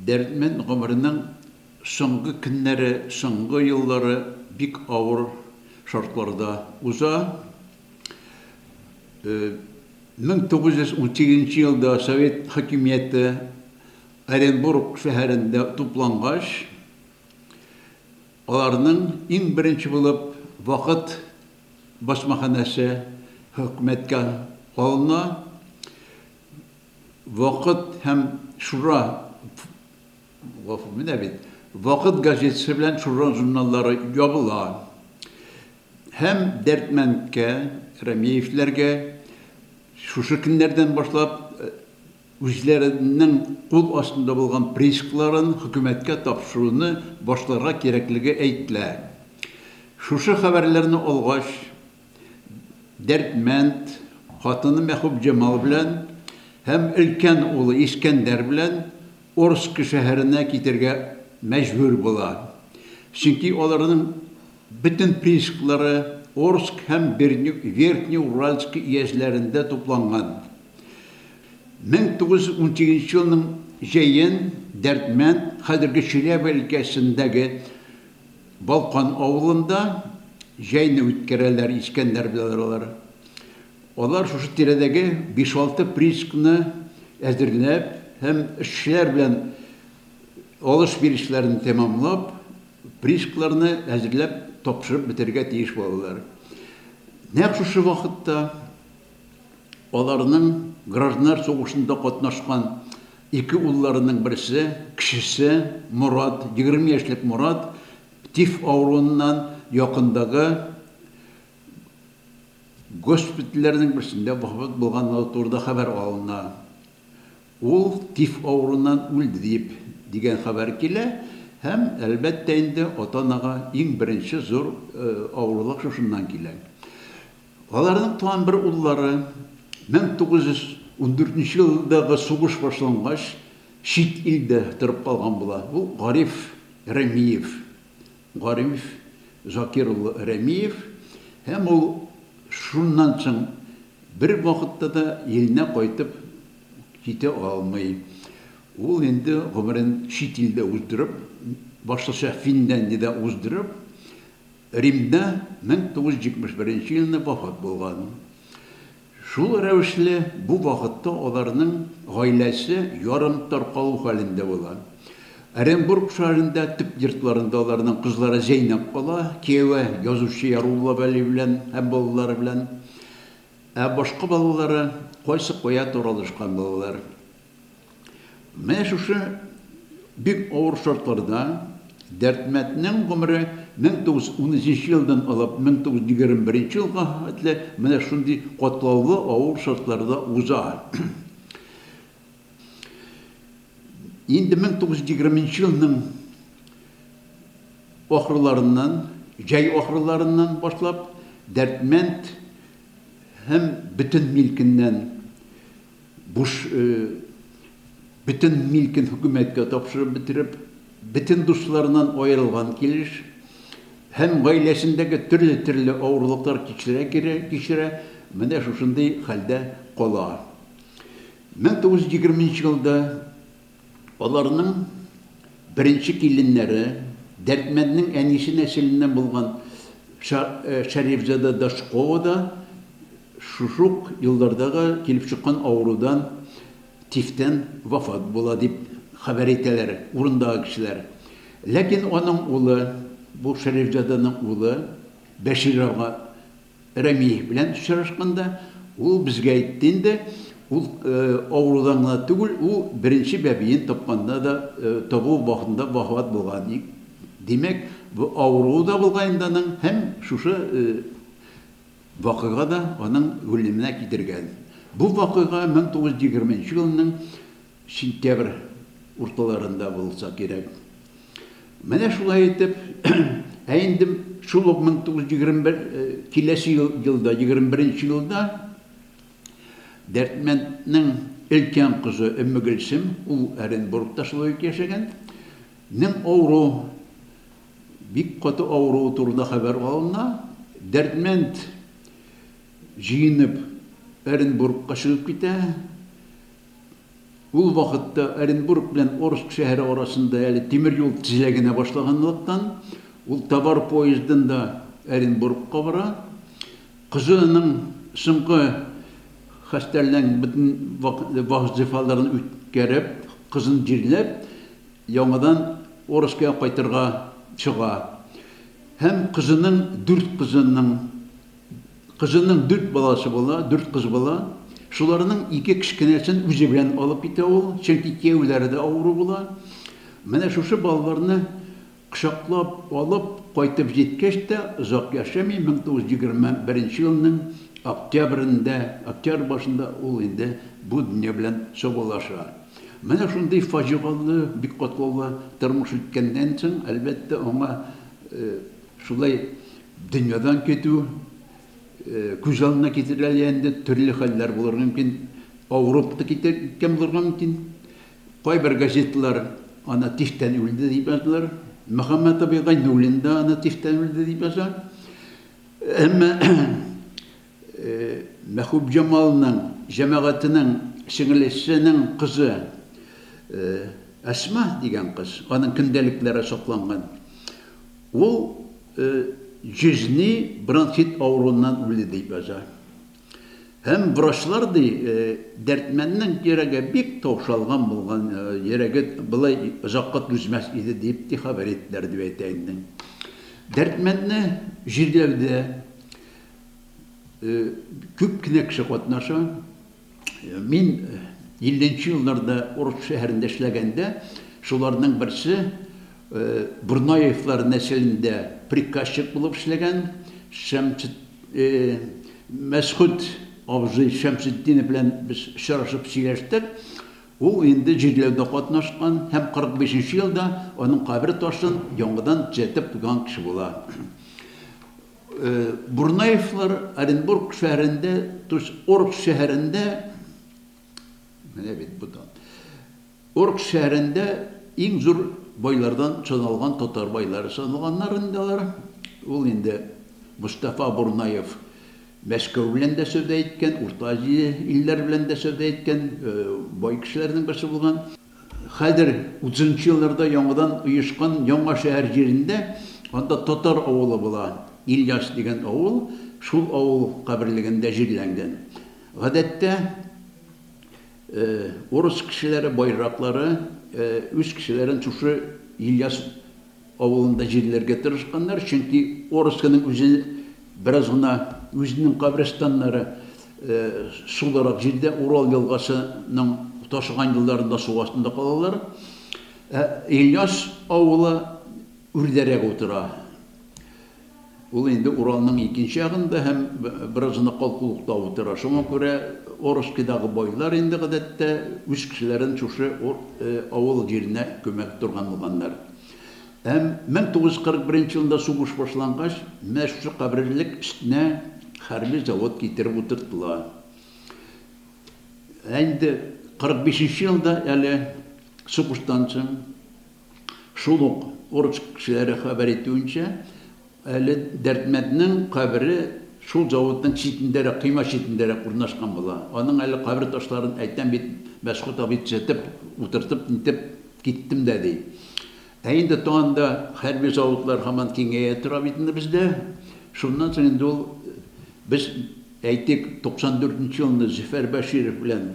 Дәрдмәнд гомеренең соңгы көннәре, соңгы еллары бик авыр шартларда уза. 1918 нче елда совет хакимияте Оренбург шәһәрендә туплангач, аларның иң беренче булып Вакыт басмаханәсе хөкүмәткә алына. Вакыт һәм Шура, гафу, менә бит, Вакыт газетасы белән Шура журналлары ябыла. Һәм Дәрдмәндкә, Рәмиевләргә шушы көннәрдән башлап үзләренең кул астында булган приискларын хөкүмәткә тапшыруны башларга кирәклеге әйтелә. Шушы хәбәрләрне алгач, Дәрдмәнд хатыны Мәхүбҗамал белән һәм өлкән улы Искәндәр белән Орск шәһәренә китәргә мәҗбүр була, чөнки аларның бөтен приисклары Орск һәм Верхнеуральск өязләрендә тупланган. 1918 елның җәен Дәрдмәнд хәзерге Чиләбе өлкәсендәге Балкан авылында җәйне үткәрәләр Искәндәр бедралары. Алар шушы тирәдәге биш-алты приисканы әзерләп һәм эшчеләр белән алыш-бирешләрен тәмамлап, приискаларны әзерләп тапшырып бетерергә тиеш булалар. Нәкъ шушы вакытта. Аларның гражданнар сугышында катнашкан ике улларының берсе, кечесе Морат, егерме яшьлек Морат, тиф авыруыннан якындагы госпитальләрнең берсендә вафат булганлыгы турында хәбәр алына. Ул тиф авыруыннан үлде дип, дигән хәбәр килә һәм, әлбәттә инде, ата-анага иң беренче зур авырлык шушыннан килә. Аларның туган бер уллары 1914 елдагы сугыш башлангач чит илдә торып калган була. Ул Гариф Рәмиев. Гариф Закир улы Рәмиев. Һәм ул шуннан соң бер вакытта да иленә кайтып китә алмый. Ул инде гомерен чит илдә уздырып, башлыча Финляндиядә уздырып, Римда 1971 елны вафат булган. Шул рәвешле бу вакытта аларның гаиләсе ярым таркалу хәлендә була. Оренбург шәһәрендә төп йортларында аларның кызлары Зәйнәп кала, кияве язучы Ярулла Вәли белән һәм балалары белән. Ә башка балалары кайсы кая таралышкан балалар. Менә шушы бик авыр шартларда Дәрдмәтнең гомере 1913 елдан алып 1921 елга хәтле менә шундый катлаулы авыр шартларда уза. Инде 1920 елның ахырларыннан, җәй ахырларыннан башлап Дәрдмәнд һәм бөтен милкеннән Буш бөтен милкен хөкүмәткә тапшырып бетереп, бөтен дусларыннан аерылган килеш һәм гаиләсендәге төрле-төрле авырлыклар кичерә-кичерә, менә шушындый хәлдә кала. 1920 нче елда Аларның беренче киленнәре, Дәрдмәнднең әнисе нәселеннән булган Шәрифзада Дашкова да шушы ук елларда килеп чыккан авырудан, тифтән вафат була, дип хәбәр итәләр урындагы кешеләр. Ләкин аның улы, бу Шәрифзаданың улы Бәшир ага Рәмиев белән очрашканда, ул безгә әйтте инде, ул авырудан гына түгел, ул беренче бәбиен тапканда да, табу вакытында вафат булган ди. Димәк, бу авыруы да булган инде аның һәм шушы вакыйга да аның үлеменә китергән. Бу вакыйга 1920 елның Сентябрь урталарында булса кирәк. Менә шулай итеп, ә инде шул ук 1921 киләсе елда, 21 нче елда Дәрдмәнднең өлкән кызы Өммегөлсем, ул Оренбургта шулай ук яшәгән, нең авыру, бик каты авыруы турында хәбәр алына. Дәрдмәнд җыенып Оренбургка чыгып китә. Ул вакытта Оренбург белән Орск шәһәре арасында әле тимер юл тезелә генә башлаганлыктан, ул товар поездында Оренбургка бара. Кызының соңгы хастәрләнг бөтен вак-зифаларын үткәреп, кызын җирләп, яңадан Орскига кайтырга чыга. Һәм кызының дүрт кызының Кызының дүрт баласы була, дүрт кыз була. Шуларның ике кечкенәсен үзе белән алып китә ул, чөнки кияүләре дә авыру була. Менә шушы балаларны кочаклап алып кайтып җиткәч тә, озак яшәми, 1921 елның октябрендә, октябрь башында ул инде бу дөнья белән саубуллаша. Менә шундый фаҗигалы, бик катлаулы тормыш үткәннән соң, әлбәттә, аңа, Шулай дөньядан китү күз алдына китерелә лә инде, төрле хәлләр булырга мөмкин. Авырып та киткән булырга мөмкин. Кайбер газеталар аны тиштән үлде дип язалар. Мөхәммәт абый Гайнуллин да аны тиштән үлде дип яза. Әмма Мәхүбҗамалның җәмәгатенең сеңлесенең кызы Әсма дигән кыз, аның көндәлекләре сакланган, ул җизни бронхит авыруыннан үлде дип яза. Һәм врачлар ди, Дәрдмәннең йөрәге бик таушалган булган, йөрәге болай озакка түзмәс иде дип ти хәбәр иттеләр, дип әйтә инде. Дәрдмәнне җирләүдә Күп кенә кеше катнаша. Мин 50 нче елларда Орск шәһәрендә эшләгәндә, шуларның берсе Бурнаевлар нәселендә приказчик булып эшләгән Мәсхүт абзый Шәмсетдинов белән без очрашып сөйләштек. Ул инде җирләүдә катнашкан һәм 45 нче елда аның кабер ташын яңадан төзәтеп куйган кеше була. Бурнаевлар Оренбург шәһәрендә, то есть Орг шәһәрендә, менә бит бу да, Орг шәһәрендә иң зур байлардан саналган татар байлары саналганнар инде алар. Ул инде Мостафа Бурнаев Мәскәү белән дә сәүдә иткән, Урта Азия илләре белән дә сәүдә иткән бай кешеләрнең берсе булган. Хәзер, утызынчы елларда яңадан оешкан Яңа шәһәр җирендә, анда татар авылы була, Ильяс дигән авыл, шул авыл каберлегендә җирләнгән. Гадәттә, урыс кешеләре, байраклары үз кешеләрен шушы Ильяс Авылында җирләргә тырышканнар, чөнки Орскиның үзе бераз гына үзенең каберстаннары сулырак җирдә, Урал елгасының ташыган елларында су астында калалар. Ә Ильяс авылы үрдәрәк утыра. Ул инде Уралның икенче ягында һәм беразына калкулыкта утыра. Шуңа күрә Орскидагы байлар инде, гадәттә, үз кешеләрен шушы авыл җиренә күмә торган булганнар. Һәм 1941 елында сугыш башлангач, менә шушы каберлек өстенә хәрби завод китереп утыртыла. Ә инде 45 нче елда әле сугыштан соң, Шул ук Орск кешеләре хәбәр итүенчә, әле Дәрдмәнднең кабере шул заводның читендәрәк, койма читендәрәк урнашкан була. Аның әле кабер ташларын, әйтәм бит, Мәсхүт абый төзәтеп, утыртып, нитеп киттем дә, ди. Ә инде тагында хәрби заводлар һаман киңәя тора бит инде бездә. Шуннан соң инде ул, без, әйтик, 94 нче елны Зөфәр Бәширов белән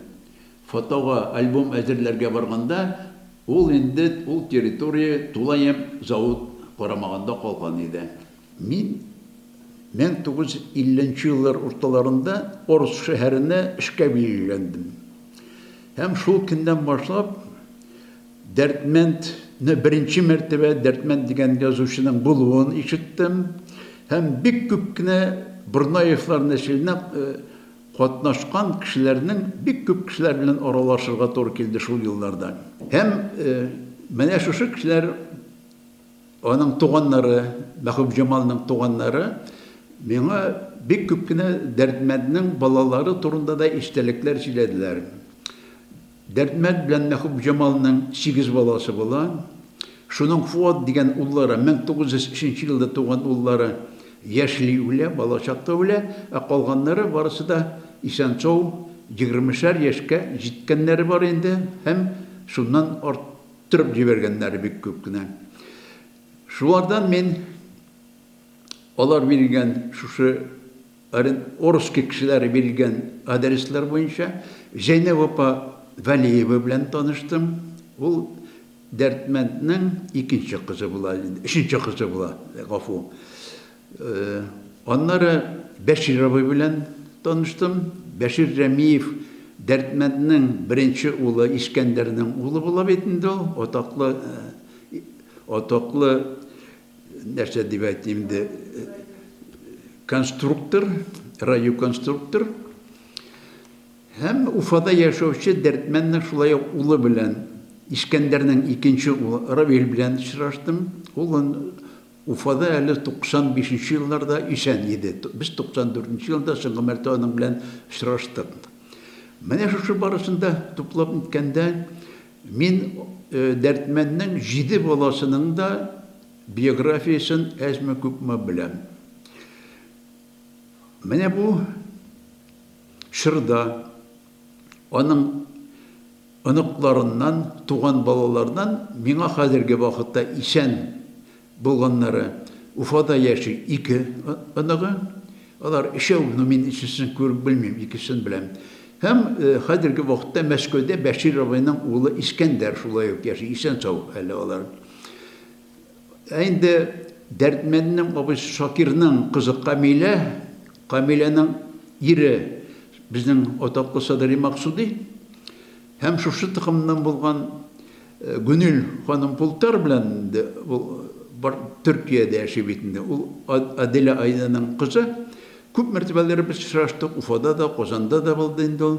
Фотога, альбом әзерләргә барганда, ул инде ул территория тулаем завод карамагында калган иде. Мин 1950 нче еллар урталарында Орск шәһәренә эшкә билгеләндем. Һәм шул көннән башлап Дәрдмәнд не беренче мәртәбә Дәрдмәнд дигән язучының булуын ишеттем һәм бик күп кенә Борнаевлар нәселенә Катнашкан кешеләрнең бик күп кешеләр белән аралашырга туры килде шул елларда. Һәм менә шушы кешеләр, аның туганнары, Мәхүбҗамалның туганнары миңа бик күп кенә Дәрдмәнднең балалары турында да истәлекләр сөйләделәр. Дәрдмәнд белән Мәхүпҗамалның сигез баласы була. Шуның Фоат дигән уллары, 1903 елда туган уллары яшьли үлә, балачакта үлә, ә калганнары барысы да исән-сау, егермешәр яшькә җиткәннәре бар инде һәм шуннан арттырып җибәргәннәре бик күп кенә. Шулардан мин алар биргән шушы. Оренбургский кешеләре биргән адреслар буенча Зәйнәб апа Вәлиева белән таныштым. Ул Дәрдмәнднең икенче кызы була, өченче кызы була, гафу. Аннары Бәшир абый белән таныштым. Бәшир Рәмиев Дәрдмәнднең беренче улы, Искәндәрнең улы була бит инде ул, атаклы, атаклы нәрсә дип әйтим инде, конструктор, радиоконструктор һәм Уфада яшәүче Дәрдмәннең шулай ук улы белән, Искәндәрнең икенче улы Равил белән очраштым. Ул Уфада әле 95 нче елларда исән иде. Без 94 нче елда соңгы мәртәбә аның белән очраштык. Менә шушы барышында туплап үткәндә Мин Дәрдмәнднең җиде баласының да биографиясен әзме-күпме беләм. Менә бу чорда аның оныкларыннан, туган балаларыннан миңа хәзерге вакытта исән, Булганнары, Уфада яши ике оныгы. Алар өчәү, ну мин өченчесен күреп белмим, икесен беләм. Һәм хәзерге вакытта Мәскәүдә Бәшир абыйның улы Искәндәр шулай ук яши, исән-сау әле алар. Ә инде Дәрдмәнднең абыйсы Шакирның кызы Камилә, Камиләнең ире безнең атаклы Садыйри Максуди. Һәм шушы токымнан булган Гөнил ханым Пултар белән инде ул бар Төркиядә яши бит инде. Ул Аделя Айданың кызы. Күп мәртәбәләр без очраштык. Уфада да, Казанда да булды инде ул.